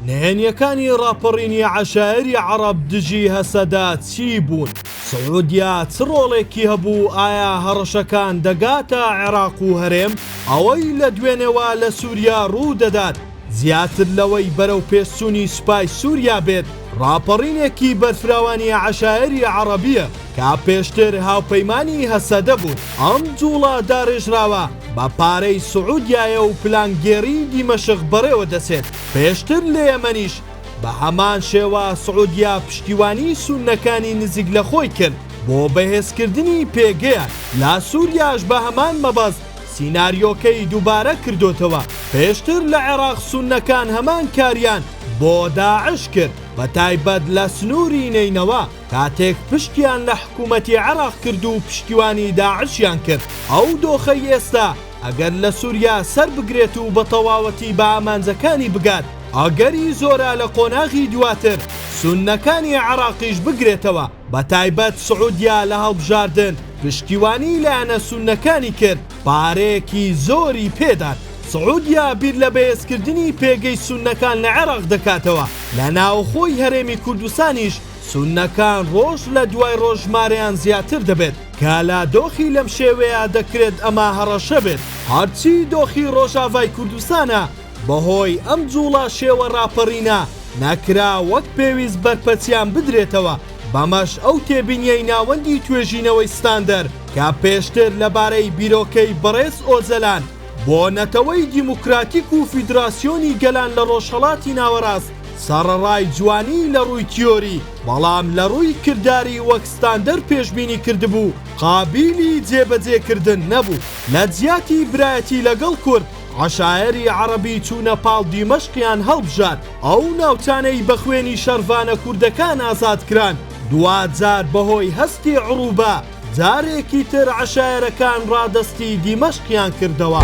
نهێنیەکانی ڕاپەڕینی عەشایەری عەڕەب دژی هەسەدە چی بوون؟ سعودیە چ ڕۆڵێکی هەبوو؟ ئایا هەڕەشەکان دەگاتە عێراق و هەرێم؟ ئەوەی لە دوێنێوە لە سوریا ڕوو دەدات زیاتر لەوەی بەرەو پێشچوونی سوپای سوریا بێت، ڕاپەڕینێکی بەرفراوانی عەشایەری عەڕەبیە کە پێشتر هاوپەیمانی هەسەدە بوون. ئەم جوڵە داڕێژراوە بە پارەی سعودیایە و پلانگێڕی دیمەشق بەڕێوە دەچێت. پێشتر لە یەمەنیش بە هەمان شێوە سعودیە پشتیوانی سوننەکانی نزیک لە خۆی کرد بۆ بەهێزکردنی پێگەیان، لە سوریاش بە هەمان مەبەست سیناریۆکەی دوبارە کردۆتەوە، پێشتر لە عێراق سوننەکان هەمان کاریان بۆ داعش کرد بە تایبەت لە سنوری نەینەوا کاتێک پشتیان لە حکومەتی عێراق کرد و پشتیوانی داعشیان کرد، ئەو دۆخەی ئێستا، ئەگەر لە سوریا سەربگرێت و بە تەواوەتی بە ئامانجەکانی بگات، ئەگەری زۆرە لە قۆناغی دواتر سوننەکانی عێراقیش بگرێتەوە، بە تایبەت سعودیا لە هەڵبژاردن پشتیوانی لایەنە سوننەکانی کرد، پارەیەکی زۆری پێدان. سعودیا بیر لە بەهێزکردنی پێگەی سوننەکان لە عێراق دەکاتەوە، لە ناوەخۆی هەرێمی کوردستانیش سوننەکان ڕۆژ لە دوای ڕۆژ ژمارەیان زیاتر دەبێت. کالا دۆخی لەم شێوەیە دەکرێت ئەمە هەڕەشە بێت، هەرچی دۆخی ڕۆژاڤای کوردستانە بەهۆی ئەم جوڵە شێوە ڕاپەڕینە نەکرا وەک پێویست بەرپەچیان بدرێتەوە، بەمەش ئەو تێبینیەی ناوەندی توێژینەوەی ستاندەر کە پێشتر لەبارەی بیرۆکەی بەڕێز ئۆجەلان بۆ نەتەوەی دیموکراتیک و فیدراسیۆنی گەلان لە ڕۆژهەڵاتی ناوەڕاست سەڕەڕای جوانی لە ڕووی تیۆری، بەڵام لە ڕووی کرداری وەک ستاندەر پێشبینی کردبوو قابیلی جێبەجێکردن نەبوو. لە جیاتی برایەتی لەگەڵ کورد، عەشایەری عەڕەبی چوونە پاڵ دیمەشقیان هەڵبژارد، ئەو ناوچانەی بە خوێنی شەڕڤانە کوردەکان ئازاد کران، دواجار بەهۆی هەستی عروبە، جارێکی تر عەشایەرەکان ڕادەستی دیمەشقیان کردەوە.